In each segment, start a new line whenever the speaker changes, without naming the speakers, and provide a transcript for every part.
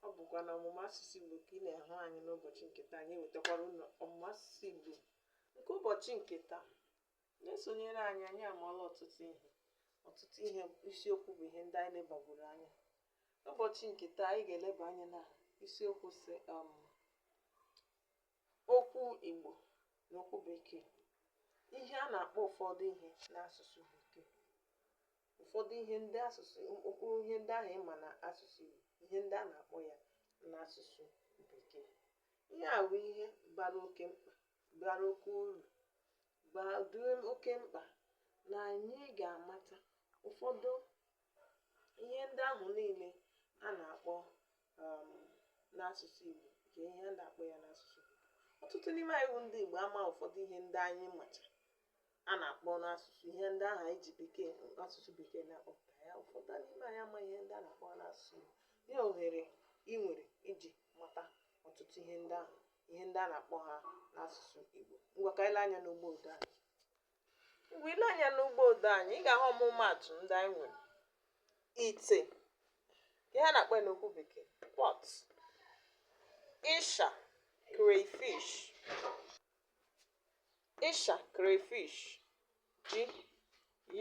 ọ bụkwa na ọmụmụ asụsụ Igbo ka ị na-ahụ anyị n'ụbọchị nke taa anyị ewetakwara unu ọmụmụ asụsụ Igbo nke ụbọchị nke taa na-esonyere anyị anyị amụọla ọtụtụ ihe ọtụtụ ihe isiokwu bụ ihe ndị anyị lebagoro anya n'ụbọchị nke taa anyị ga-eleba anya na isiokwu sị um, Okwu Igbo na okwu Bekee. Ihe a na-akpọ ụfọdụ ihe n'asụsụ Bekee. Ụfọdụ ihe ndị asụsụ mkpụrụ ihe ndị ahụ ị ma na asụsụ Igbo, ihe ndị a na-akpọ ya n'asụsụ Bekee. Ihe a bụ ihe bara oke mkpa, bara oke uru, dị oke mkpa na anyị ga-amata ụfọdụ ihe ndị ahụ niile a na-akpọ um, n'asụsụ Igbo nke ihe a na-akpọ ya n'asụsụ Bekee ọtụtụ n'ime anyị bụ ndị Igbo ama ụfọdụ ihe ndị anyị macha a na-akpọ n'asụsụ ihe ndị ahụ anyị ji bekee asụsụ bekee na-akpọpụta ya ụfọdụ n'ime anyị ama ihe ndị a na-akpọ ha n'asụsụ Igbo ihe ohere ị nwere iji mata ọtụtụ ihe ndị ahụ ihe ndị a na-akpọ ha n'asụsụ Igbo ngwa ka anyị lee anya n'ugbo odee anyị mgbe i lee anya n'ugbo odee anyị ị ga-ahụ ọmụmaatụ ndị anyị nwere ite ihe a na-akpọ ya n'okwu bekee pot ịsha crayfish ịsha crayfish ji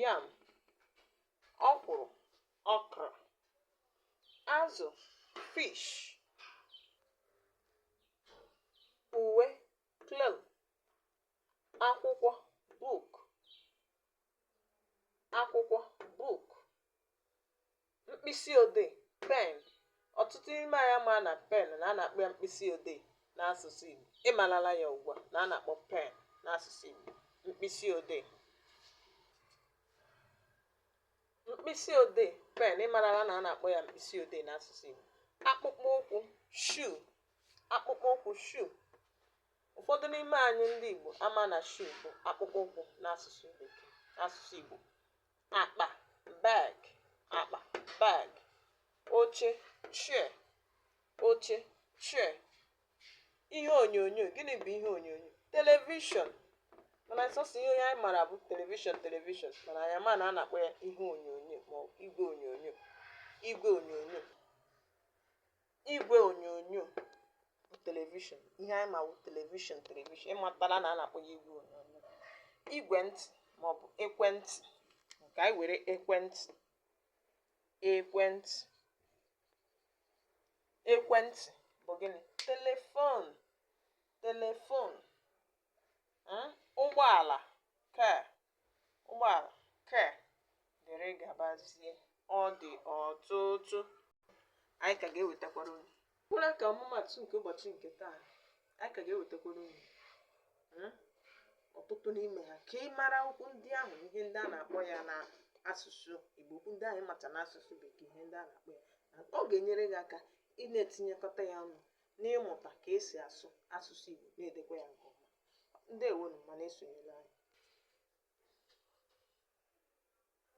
yam ọkwụrụ okra azụ fish uwe cloth akwụkwọ book akwụkwọ book mkpịsị odee pen ọtụtụ n'ime anyị ama na pen na a na-akpọ ya mkpịsị odee n'asụsụ Igbo ị malala ya ugbu a na a na-akpọ pen n'asụsụ Igbo mkpịsị odee mkpịsị odee pen ị marala na a na-akpọ ya mkpịsị odee n'asụsụ Igbo akpụkpọ ụkwụ shoe akpụkpọ ụkwụ shoe Ụfọdụ n'ime anyị ndị Igbo ama na shoe bụ akpụkpọ ụkwụ n'asụsụ Bekee, n'asụsụ Igbo. Akpa, bag, akpa, bag. Oche, chair, oche, chair. Ihe onyonyo, gịnị bụ ihe onyonyo? Televishọn. Mana sọsọ ihe onye anyị mara bụ televishọn, televishọn. Mana anyị ama na a na-akpọ ya ihe onyonyo ma ọ bụ igwe onyonyo, igwe onyonyo. igwe onyonyo bụ televishọn ihe anyị ma bụ televishọn televishọn ị matala na a na-akpọ ya igwe onyonyo igwe ntị maọbụ ekwentị ka anyị were ekwentị ekwentị ekwentị bụ gịnị telefon telefon ụgbọala car ụgbọala car dịrị gabazie ọ dị ọtụtụ anyị ka ga-ewetakwara unu kwụrụ ka ọmụmatụ nke ụbọchị nke taa anyị ka ga-ewetakwara unu ọtụtụ n'ime ha ka ị mara okwu ndị ahụ ihe ndị a na-akpọ ya n'asụsụ igbo okwu ndị anyị mata n'asụsụ bekee ihe ndị a na-akpọ ya ọ ga-enyere gị aka ị na-etinyekọta ya ọnụ n'ịmụta ka esi asụ asụsụ igbo na-edekwa ya nke ọma ndewonu ma na-esonyere anyị